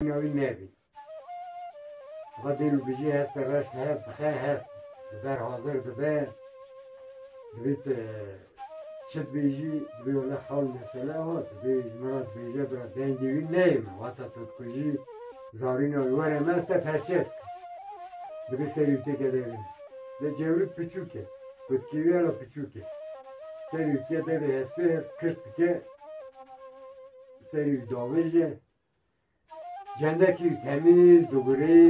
Nîna wî nebî. Xwe dêr û bijî hestê reş hev dixe, hest li ber hazir dibe. Divê tu çi dibêjî, divê wele xewn mesele ho, divê ji min re dibêje bira dengê wî neyê min, wata tu dikujî, zarîna wî were me ez te perçe dikim. Divê serî wî têke de bîne. Lê cewrik piçûk e, kutkê wî hela piçûk e. Serî wî tê de bê hespê hev kirt dike, serî wî davêje, Cendekî temîz digurî,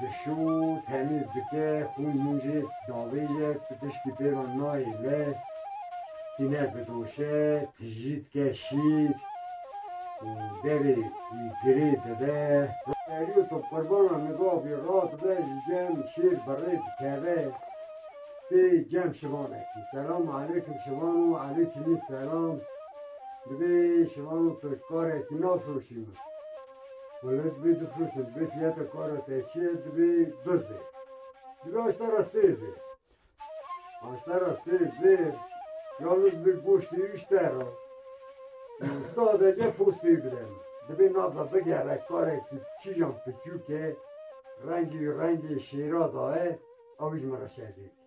dişû, temîz dike, xûn hûn jî davêje, pitişkî pê re nayê li, tîne didoşe, tijî dike şîr û derê wî girê dide. Erî tu qurbana niga bî, rahat be ji cem şîr bi rê dikeve pê cem şivanekî. Selam aleykum şivan û aleykimî selam. Divê şivan û firoşkarek nafiroşîn min. Wele divê difiroşin, divê fiyata kara te çi ye, divê du zêr. Divê aşta ra sê zêr. Aşta ra sê zêr, ya min divê goştê wî bişte ra. Sadece postê wî bide min. Divê nava bigere karekî kîjan piçûk e, rengê wî rengê şêra da ye, ew jî min re şer dê bikî.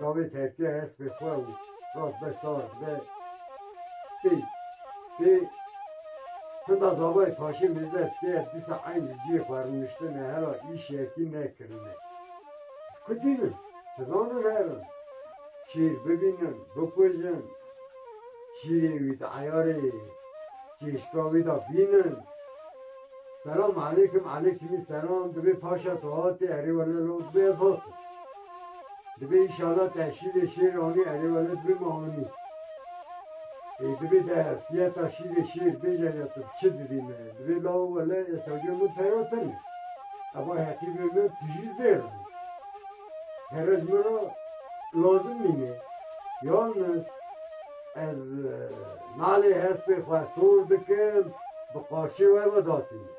Dawê terkiya hespê xwe û rast be sar be pê pê Hida zavayê paşê mêze tê dîsa eyn li ciyê xwe rûniştine hera îş yekî nekirine. Ji ku tînin? Ti zanin herin? Şîr bibînin, bikujin, şîrê wî di eyarê çêşka wî de bînin. Selam aleykum, aleykimî selam, divê paşa tu hatî erê wele lewt bê ez hatim. Dibê îşana te şîrê şêr anî erê welat bima anî. Ê dibê te fiyeta şîrê şêr bêje ya tu bi çi didî me. Dibê lawo wele ez tevliya min tera tene. Eva heqîbê me tu jî zêr bî. Herez min ra lazim nîne. Yalnız ez nalê hespê xwe sor dikim bi qaşê we vedatîne.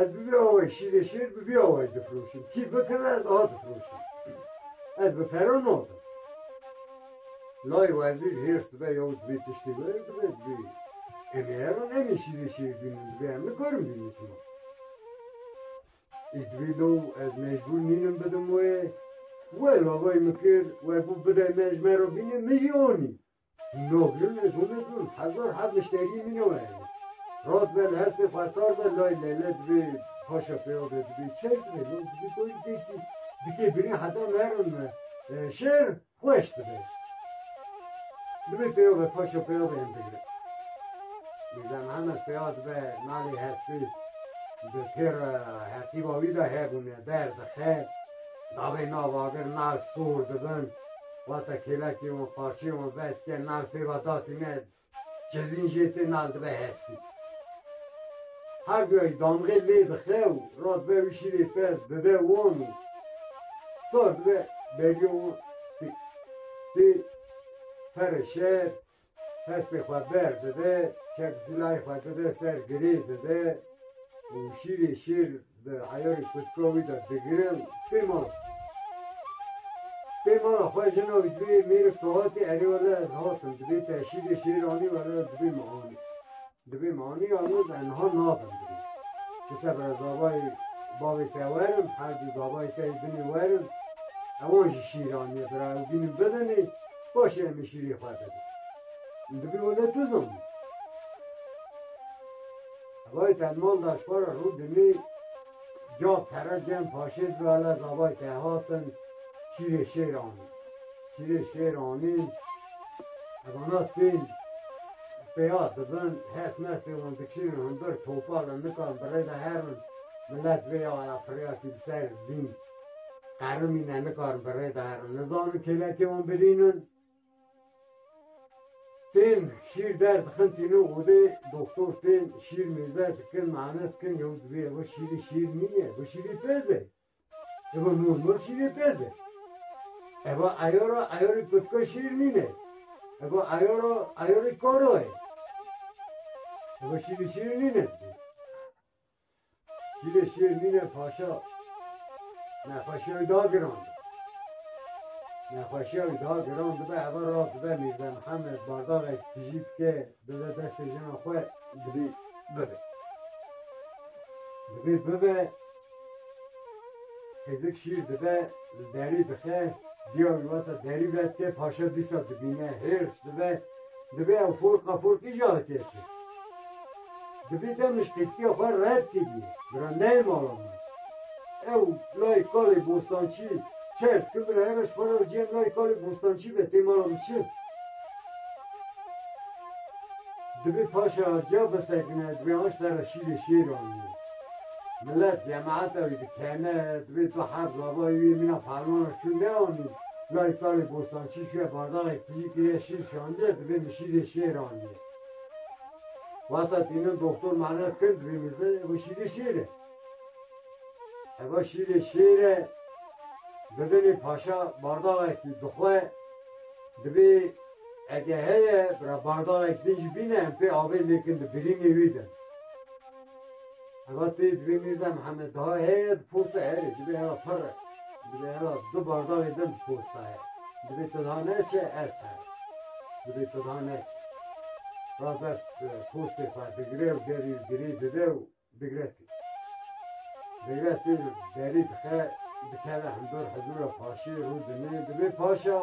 Ez bi vî awayî şîrê şêr bi vî awayî difiroşim. Kî bikeve ez a difiroşim. Ez bi pere nadim. Lay wezîr hêrs dibe ya û dibê tiştê were dibe dibê. Em ê herin em ê şîrê şêr bînin dibê em nikarin bînin sima. Ê dibê lo ez mecbûr nînim bidim wê. We lavayî min kir we bû bide me ji me re bîne min jî anî. Noglûnê Gûmê Dûn, Hezar heb mişterî min e werî. Rast be li hestê xwe sar be lay lele dibê paşa pêya be dibê çêr dibê lê dibê ku ji dê kî dikê birîn heta merin me şêr xweş dibe. Dibê pêya be paşa pêya be yên digre. Mîrza Mihemed pêya dibe malê hestê di pêr hetîba wî de hebûne ber dixe. Dabê navagir nal sor dibin. Wate kêlekê wan parçeyê wan vedike nal pêva datî ne cezîn jê tê nal dibe hestî. Her duyayî damxê lê dixe û ra dibe wî şîrê pez dide wan û sar dibe beriya wan tê tê pere şer Hespê xwe ber dide, kek zilayê xwe dide ser girê dide û şîrê şêr di eyarê pirtûka wî de digire û pê mala xwe. Pê mala xwe jina wî dibê mêrik Fihatê erê wele ez hatim dibê te şîrê şêr anî wele ez dibê min anî. Di vê maniya min ez niha nabim birî. Di ser rezabayê bavê te werim, herdû dabayê te yê binê werim. Ewan jî şîran ye, bira ew bînin bibinê, paşê em ê şîrê xwe bibin. Min dibî û ne tu zanî. Hevalê te li mal da ji xwe re rû dimê, caf pere cem paşê dibe, lez abayê te hatin, şîrê şêr anîn. Şîrê şêr anîn, hevana tên pêya dibin, hes mes tê wan dikişînin hundir, topal in, nikan bi rê ve herin, milet vê ya ya pirêya kî bi ser zîn qerimîne, nikarin bi rê ve herin, nizanin kêlekê wan birînin, tên şîr der dixin tînin odê, doktor tên şîr mêze dikin, mane dikin, yew dibêje got şîrê şêr nîye, got şîrê pez e. Evo normal şîrê pez e. Evo ayora ayori kutka şîr nîne. Evo ayora ayori koro e. Evo şîrê şîr nîne. Şîrê şîr nîne paşa. Nexweşiya wî da giran. Nexweşiya wî da giran dibe eva ra dibe Mîrze Mihemed bardavek tijî bike bize destê jina xwe dibî bibe. Dibî bibe Hêzik şîr dibe, li derî dixe, diya wî wata derî ve, tê paşe dîsa dibîne, hêrs dibe, divê ew forqa forkî jî hatê kir. Divî te min ji qîskiya xwe red kirî, bira neyê mala min. Ew layê kalê Bostançî çers kir, bira hera ji xwe re ciyê layê kalê Bostançî be, tê mala min çi? Divê paşe aciya bisekine, divê aşta re şîrê şêr anî. Milet cemaeta wî dikene, divê tu her zavayê wî mîna fermana şûn neanî. Layê Talê Bostançî şûye bazarek tijî kiriye şîr şandiye, divê min şîrê şêr andiye. Wexta tînin doktor mane kir divê min zin eva şîrê şêr e. Eva şîrê şêr e, bibinê paşa bardalekî dixwe, divê ege heye bira bardalek din jî bîne em pê avê lêkin di birînê wî de. Heva tê divê Mîrza Mihemed daha heye di posta herê divê heva pir e. Divê heva du bardavê din di posta heye. Divê tu daha neçe ez here. Divê tu daha neçe. Ra ber postê xwe digire û derî girê dide û digre tê. Digre tê derî dixe dikeve hundur hizûra paşê rû dinê. Divê paşa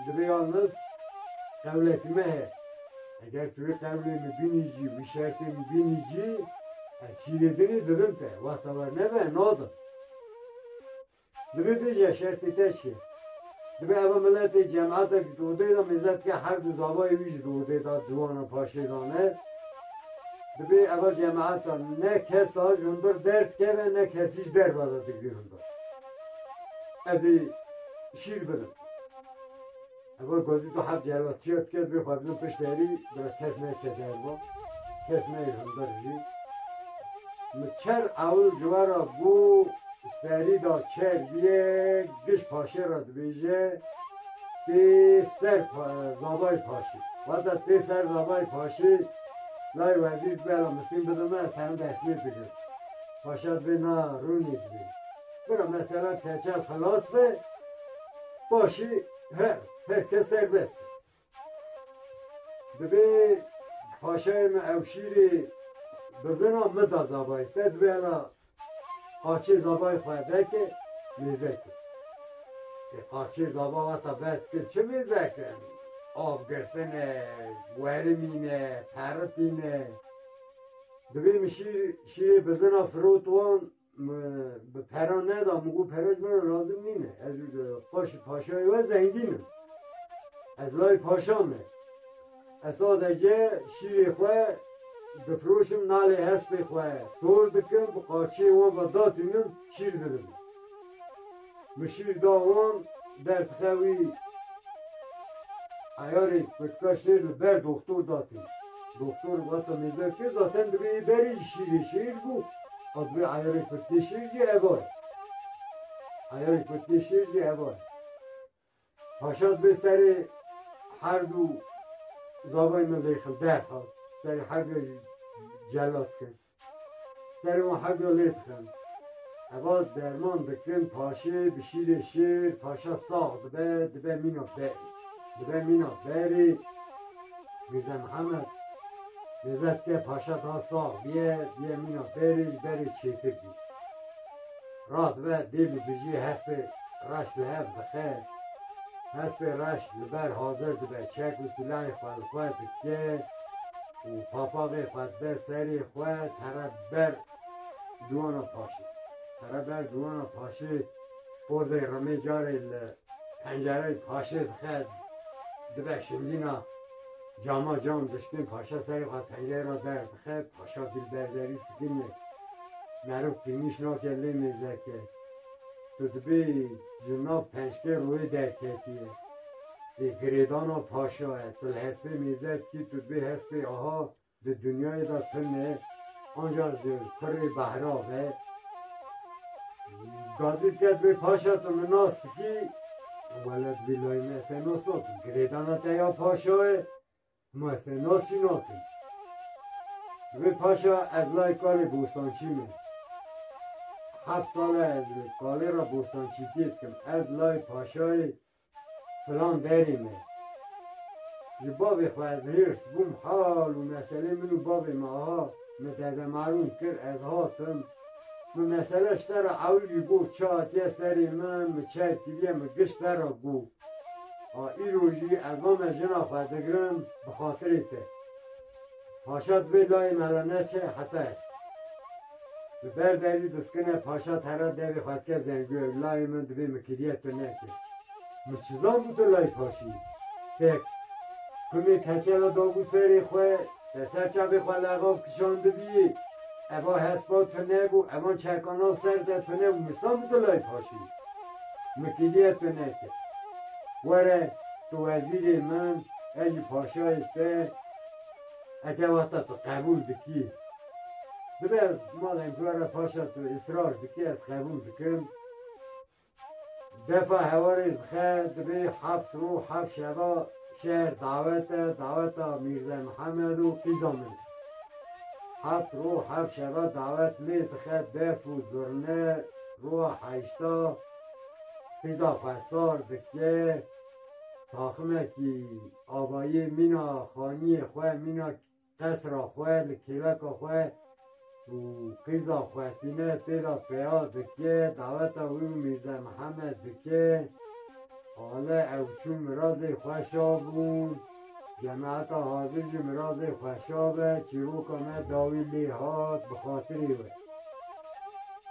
divê ya min dewletî me heye. Eger tu vê tevlê min bînîjî, vî şertê min bînîjî, ez şîrê dinê didin te, wexta we nebe nadim. Divê bêje şertê te çi ye? Divê eva miletê cemete ji dodê de mêze dike her du zavayê wî ji dodê de ciwanan paşê dane. Divê eva cemeta ne kesa ji hundir derdikeve ne kesî ji derve de digirî hundir. Ez ê şîr bidim. Evo gozi do heft car otiyo dike bê xwe bidim pişt erî bira kes ne keder bo. Kes ne himber jî. Mi çer ewl civara bû serî da çer biye giş paşê ra dibêje tê ser zabayê paşê. Wata tê ser zabayê paşê lay wezîr bela misîn bidime sen destmê digir. Paşa dibê na rûnê dibê. Bira mesela keçe xilas be paşê Her her kes serbest e. Divê paşayê me Ewşîrê bi zina min da zabayê te divê hela qaçê zabayê xwe veke mêze kir. Ê qaçê zaba wata vet kir çi mêze kir? Av girtin e, werimîn e, peritîn e. Divê min şîr şîrê bi zina firot wan Me bi pera neda min got pera ji min re lazim nîne. Ez ji paşê paşayê we zengîn im. Ez layê paşa me. Ez sadece şîrê xwe difiroşim nalê hespê xwe tor dikim bi qaçiyê wan ve datînim şîr dibim. Min şîr da wan derdixe wî eyarê pirtûka şêr li ber doxtor datî. Doxtor vata mêza ke zaten divê yê berê jî şîrê şêr bû a divê eyarê pirtûkê şêr jî eva ye. Eyarê pirtûkê şêr jî eva ye. Paşa bi serê her du zavayê min lê xil derxist, serê her duya jî celat kir. Serê wan her duya lê dixin. Heva derman dikin paşê bi şîrê şêr, paşa sax dibe, dibe mîna berê. Dibe mîna berê, Mîrza Mihemed mêzet ke paşa daha sax biye, biye mîna berê, berê çêtir bî. Rast be dêl û dijî hespê reş li hev dixe. Hespê reş li ber hazir dibe, çek û silahê xwe li xwe dike û papaxê xwe dibe serê xwe tere ber dûana paşê. Tere ber dûana paşê pozê remê carê li pencereyê paşê dixe, dibe şingîna. Cama cam dişkên paşa serê xwe tengê re derdixe, paşa dilber derî sikine. Meriv qîmîş nake lê mêzeke. Tu dibê ji nav pençkê royê derketiye. Lê girêdana paşa ye. Tu li hespê mêze dikî, tu dibê hespê aha di dinyayê de tune. Anca ji kurê behra ve gazî te bê paşa tu min nas dikî welat vî layê me te nas nakim girêdana te ya paşa ye ma te nasî nakim Vê paşa ez lay kalê bostançî me heft sal e ez li kalê re bostançîtiyê dikim ez lay paşayê Filan derê me ji bavê xwe ez hêrs bûm hal û meselê min û bavê me a min Dede Marûn kir ez hatim min mesele ji te re ewil jî got çi hatiye serê min min çer kiriye min giş te re got ha îro jî ez name jina xwe digirim bi xatirê te. Paşa divê layê me re neçe heta ev. Li ber derî diskine paşa tera devê xwe dike zengû ew layê min divê min kiriyek tu neke. Min çizan bû tu layê paşî yî. Pêk. Kumê keçe re dabû serê xwe, te ser çavê xwe lexav kişandibîyî. Eva hespa tune bû, evan çerkana ser te tune bû. Min çizan bû tu layê paşî yî. Min kiriyek tu neke. Were tu wezîrê min, ez jî paşayê te. Eke wexta tu qebûl dikî, dibe ez malên ku were paşa tu israr dikî ez qebûl dikim. Defa hewarê dixe dibê heft rû heft şeva şer dawet e, daweta Mîrze Mihemed û qîza min. Heft rû heft şeva dawet lê dixe def û zurne rûa heşta qîza xwesar dike taximekî Abayê mîna xaniyê xwe, mîna qesra xwe li kêleka xwe û qîza xwe tîne tê de peya dike, daweta wî û Mîrze Mihemed dike. Hale ew çû mirazê xwe şabûn. Cemaeta hazir jî mirazê xwe şabe, çîroka me dawî lê hat bi xatirê we.